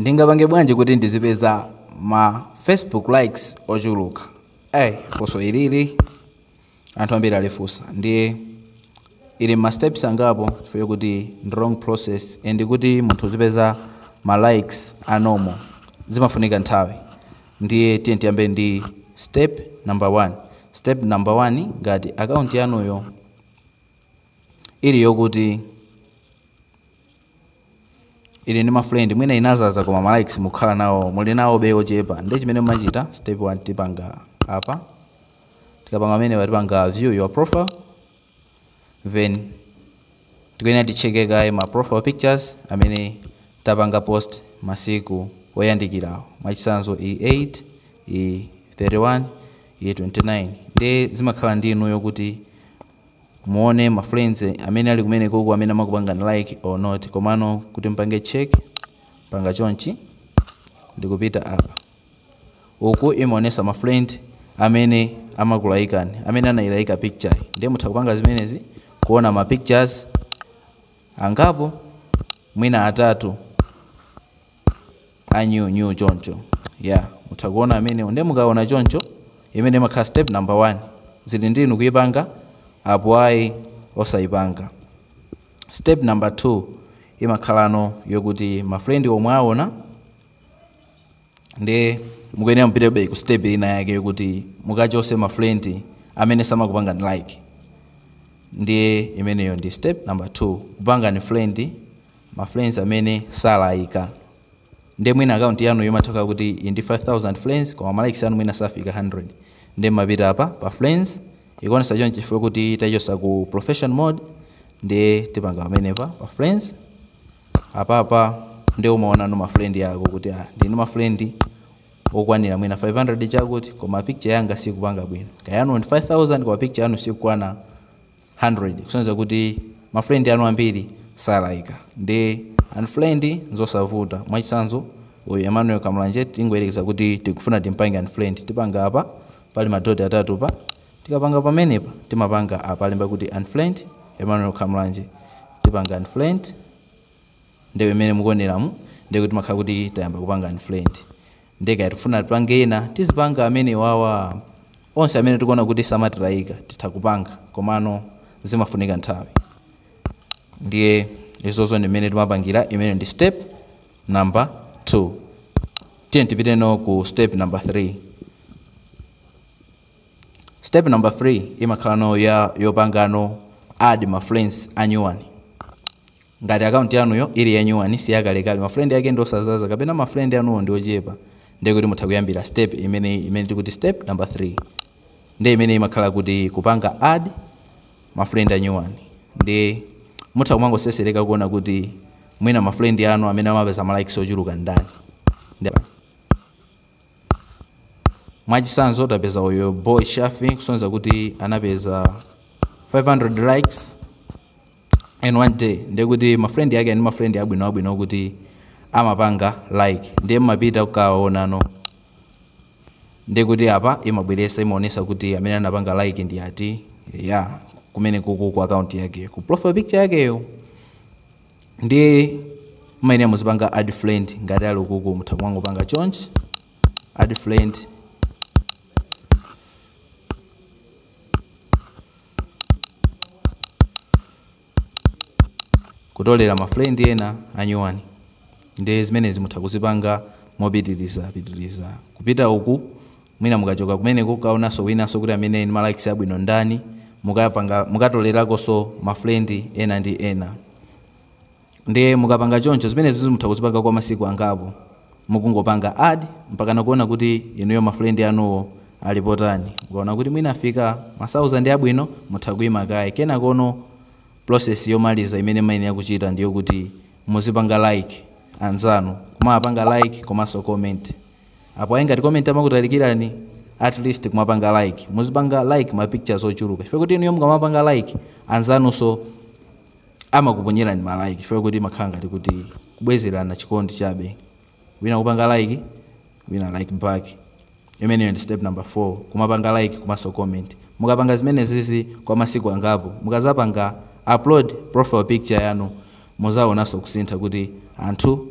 Ndingapange bwanji kuti ndizipeza ma Facebook likes ochuluka? funso ilili anthu ambiri alifunsa ndiye ili mma steps angapo chifukwa chokuti ndi long process and kuti munthu uzipeza ma likes a normal zimafunika nthawi ndiye tiyeni tiyambe ndi step number 1. Step number 1, ngati account yanuyo ili yokuti ili ndi mafriend mwina inazaza koma ma likes mukhala nawo muli nawo be ochepa ndiye chimene mumachita step 1 tipanga apa tikapanga amenewa tipanga view your profile then tikuyenera ticheke kaye ma profile pictures amene tapanga post masiku oyandikirawo mwachitsanzo e8 e31 e29 ndiye zimakhala ndi inuyo kuti muone ma friends amene ali kumenekoko amene amakupangani like or not komano kuti mpange check mpanga chonchi ndikupita apa uku imaonesa ma friend amene amakulaikani amene anailaika picture yi. ndiye mutha kupanga zimenezi kuona ma pictures angapo mwina atatu anayi choncho ya mutha kuona amenewo nde mukaona choncho imene imakhala step number 1 zili ndi inu kuipanga apo ayi osaipanga step number 2 imakhalano yokuti mafrendi omwe aona nde mukuyenera mupitebe ku step ina yake yokuti mukachose mafrendi amene samakupangani like ndiye imeneyo ndi step number 2 kupanga unfriend ma friends amene salayika nde mwina akaunti yanu imatha kukhala kuti ili ndi 5000 friends koma ma likes anu mwina safika 100 nde mumapita apa pa friends ikuonesa chonchi chifukwa kuti tachotsa ku profession mode ndiye tipanga pamenepa pa friends apapa nde umaonano ma friend yako kuti ah, ndili ndi ma friend okwanira mwina 500 chakuti koma picture yanga sikupanga bwino kaya anu ndi 5000 koma picture yanu sikukwana 100 kusonyeza kuti ma friend anu ambiri salaika nde unfriend nzosavuta mwachitsanzo uyu Emmanuel Kamulanje tingoyerekeza kuti tikufuna timpange unfriend tipanga apa pali ma dot atatu pa tikapanga pamenepa timapanga apa alemba kuti unfriend Emmanuel Kamulanje tipanga unfriend nde mmene mukuoneramu ndekuti timakhala kuti tayamba kupanga unfriend Nde kaya tikufuna tipange ena tizipanga amenewawa. Onse amene tikuona kuti samatilaika titha kupanga komano zimafunika nthawi. Ndiye izozo ndi mmene timapangira, imene ndi step number 2. Tiyeni tipiteno ku step number 3. Step number 3 imakhalano yopangano add ma friends anyuwani. Ngati akaunti yanuyo ili ya nyuwani, si yakalekale, ma friend ake ndi osazaza kapena ma friend anuwo ndi ochepa, ndiye kuti mutha kuyambira step imeneyi imene tikuti step number 3. Ndiye imeneyi imakhala kuti kupanga add ma friend a nyuwani. Ndiye mutha kumangoseseleka kuona kuti mwina ma friend anu amene amapeza ma likes ochuluka ndi ndani. Ndiye Mwachitsanzo tapeza uyu Boy Shaffie kusonyeza kuti anapeza 500 likes. in one day ndiye kuti ma friend yake ndi ma friend abwino abwino kuti amapanga like ndiye mmapita kukaonano ndiye kuti apa imabweresa imaonesa kuti amene anapanga like ndi ati ya kumene kuku ku account yake ku profile picture yakeyo ndiye mmayenera muzipanga add friend ngati ali ukuku mutha kumangopanga chonchi add friend kutolera ma friend ena anyuwani nde zimenezi mutha kuzipanga mopitiliza pitiliza kupita uku mwina mukachoka kumeneko kukaonanso winanso kuti amene ndi ma likes abwino ndani mukatolerakonso ma friend ena ndi ena. Ndiye mukapanga choncho, zimenezizi mutha kuzipanga kwa masiku angapo mukungopanga add mpakana kuona kuti inuyo ma friend anuwo ali potani. Mukaona kuti mwina afika ma thousand abwino, mutha kuima kaye. Kenakono process yomaliza imene mmayenera kuchita ndi yokuti muzipanga like anzanu, kumawapanga like komanso comment. Apo ayi ngati comment amakutalikirani, atleast kumapanga like. Muzipanga like ma pictures ochuluka chifukwa choti inuyo mukamapanga like, anzanunso. amakuponyerani ma like chifukwa choti imakhala ngati kuti kubwezerana chikondi chabe wina kupanga like wina like back imeneyo ndi step number 4 kumapanga like komanso comment mukapanga zimenezizi kwa masiku angapo mukazapanga upload profile picture yanu muzaonanso kusintha kuti anthu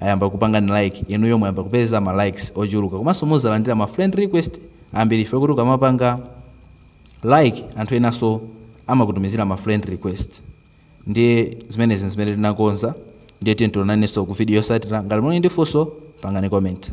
ayamba kupangani like inuyo muyamba kupeza ma likes ochuluka komanso muzalandira ma friend request ambiri chifukwa choti ukamapanga Like anthu enaso amakutumizila ma friend request ndiye zimenezi nzimene tinakonza ndiye tiye tionaneso ku video yosatila ngati muli ndi funso pangani comment.